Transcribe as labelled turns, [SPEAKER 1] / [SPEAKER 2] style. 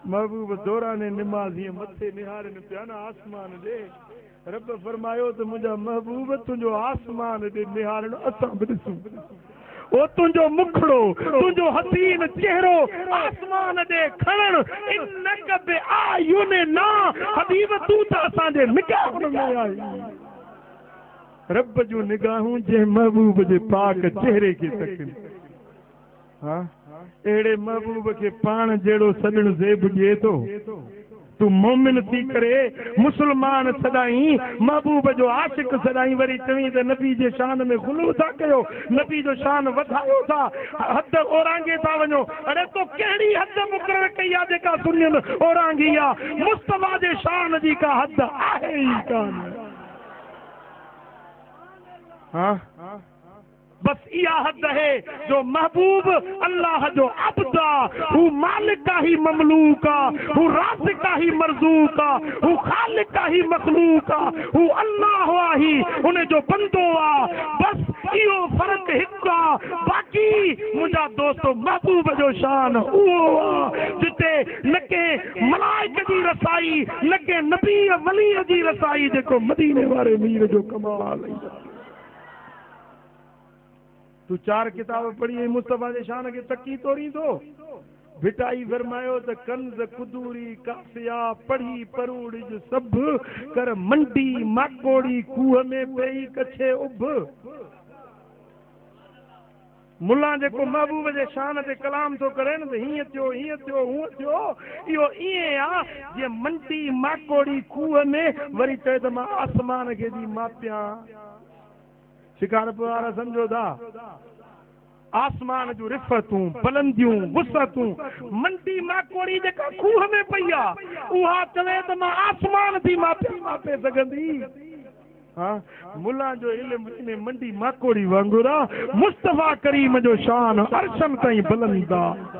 [SPEAKER 1] محبوب دوران نمازيء مٿي نهارين پيا نه آسمان ڏي، رب فرمايو ته منهنجا محبوب تنهنجو آسمان ڏي نهارڻ اسان به ڏسون. او تنهنجو مکڙو، تنهنجو حسين چهرو آسمان ڏي کڻڻ، انک باعيننا، حبيب تون ته اسان جي نگاهن ۾ آهين. رب جون نگاهون جنهن محبوب جي پاڪ چهري کي تڪن. ها! اهڙي محبوب کي پاڻ جهڙو سڄڻ زيب ڏئي ٿو. تون مومن ٿي ڪري مسلمان سڏائين، محبوب جو عاشق سڏائين وري چوين ته نبي جي شان ۾ غلو ٿا ڪيو، نبي جو شان وڌايو ٿا، حد اورانگهي ٿا وڃو. اڙي تو ڪهڙي حد مقرر ڪئي آ جيڪا سنين اورانگهي آ. مصطفيٰ جي شان جي ڪا حد آهي ئي ڪانه. ها! بس اها حد اهي جو محبوب الله جو عبد آ، هو مالڪ آ هي مملوڪ آ، هو رازق آ هي مرزوق آ، هو خالق آ هي مخلوق آ، هو الله آ هي ان جو بندو آ، بس اهو فرق هڪ آ، باقي منهنجا دوستو محبوب جو شان اهو آ جتي نه ڪنهن ملائڪ جي رسائي نه ڪنهن نبي ولي جي رسائي جيڪو مديني واري مير جو ڪمال اهي. تون چار ڪتاب پڙهي ۽ مصطفيٰ جي شان کي تڪي تورين ٿو؟ ڀٽائي فرمايو ته ڪنز، قدوري، ڪافيا، پڙهي پروڙج سڀ، ڪر منڊي، ماڪوڙي، کوهه ۾ پيئي ڪڇي اڀ. ملا جيڪو محبوب جي شان تي ڪلام ٿو ڪرين ته هيئن ٿيو، هيئن ٿيو، هونئن ٿيو، اهو ائين آ جيئن منڊي، ماڪوڙي، کوهه ۾، وري چوي ته مان آسمان کي ٿي ماپيان. شڪارپور وارا سمجهو ٿا آسمان جون رفتون، بلنديون، وسعتون، منڊي ماڪوڙي جيڪا کوهه ۾ پئي آ، اها چوي ته مان آسمان ٿي ماپيان ماپي سگهندي؟ ها ملان جو علم انهي منڊي ماڪوڙي وانگر آ، مصطفيٰ ڪريم جو شان عرشن تائين بلند آ.